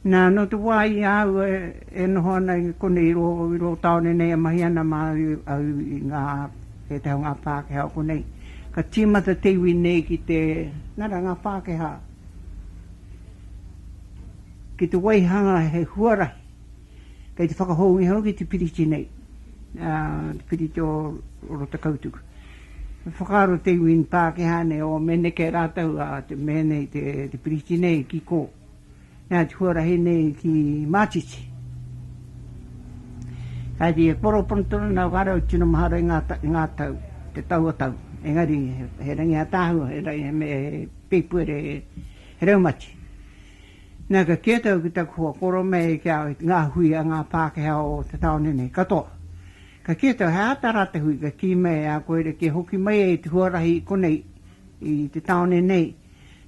Nā, nō te wā i a au e noho ana i konei i rō tāone nei e mahi ana māu au i ngā, pētahi o ngā Pākehā o konei, ka tīmata te iwi nei ki te, nā reira ngā Pākehā, ki te waihanga he huarahi. Kei te whakahōunga hoki te piriti nei, te piriti o Rotakautuku. He whakaaro te iwi Pākehā nei, o me neke rātou a te mea nei, te piriti nei ki kō. Nā te huarahi nei ki Mātiti. Ka kī, e koro pono tonu nā whare o tino mahara i ngā tau, te taua tau. Engari, he rangi ātaahua, he rangi, he peipuere, he raumati. Nā, ka kite au ki taku hoa koro me eke au i ngā hui a ngā Pākehā o te tāone nei katoa. Ka kite au he āta rā te hui, ka kī mai e a koe rerekē hoki mai ai te huarahi i konei, i te tāone nei,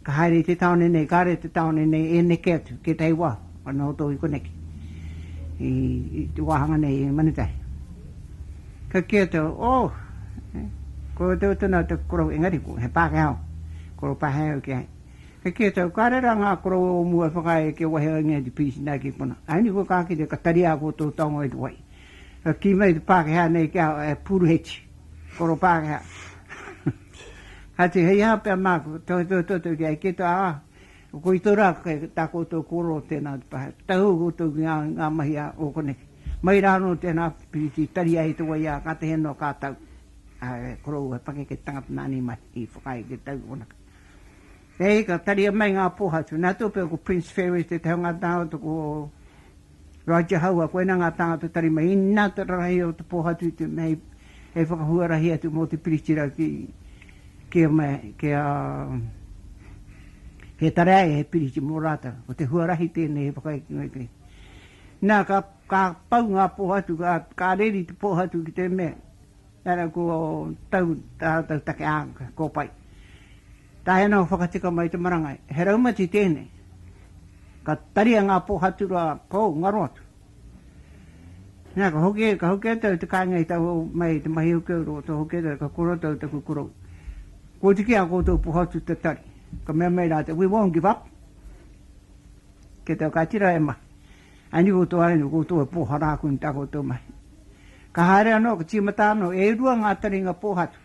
ka haere i te tāone nei, kāre i te tāone nei e neke atu ki ētahi wā, anō hoki i koneki, i te wāhanga nei i Manutahi. Ka kite au, oh, koia tonu au taku korou engari he Pākehā au, koropahe au ki a ia. Kei kē tau, ka rera ngā koroua o mua e whakaae ai kia waihau ai ngā DPs nā ki konā. Aini koe ka kite, ka tari āku o tō taonga i te wai. Ka kī mai te Pākehā nei ki a au, e Pūruheti, koro Pākehā. Ka tū, hei aha pea māku, tohetohe toto ki a au, kē tau, ā, ko i tō rā kei tā koutou kōrero tēnā te pae, tahū koutou ki ngā mahi a o koneke. Mai rā anō tēnā piriti tari ai te wai ā, ka tehe noa kā tau. Ā, e koroua, he pakeke te tangata nāni mai i whakaae ki a tau ki konaka. Hei, ka taria mai ngā pōhatu. Nā Tōpia ko Prince Ferris tētahi o ngā tāngata ko Roger Haua, koinā ngā tāngata tarima. Inā te rarahi o te pōhatu i te mea hei whakahuarahi atu mō te Piritira ki kia mea, kia he tare ai he piriti mō rātou. Ko te huarahi tēnei hei whakaekenga i te. Nā, ka, ka pau ngā pōhatu, ka, ka reri te pōhatu ki te mea, Tara ko tau tā rātou take āka, ko pai. Tae ana o whakatika mai te marangai, he raumati tēnei. Ka taria ngā pōhaturoa pou ngaro atu. Nā, ka hoki, ka hoki atu au te kāinga i tau mai te mahi hoki au ro, tō hoki atu au, ka koro atu au taku korou. Ko te ki a koutou pōhatu te tari. Ka mea mai rātou, we won't give up. Kei tau ka tira e mahi. Aini koutou, aini koutou e pōhara aku nei tā koutou mahi. Ka haere anō, ka tīmata anō, e rua ngā taringa pōhatu,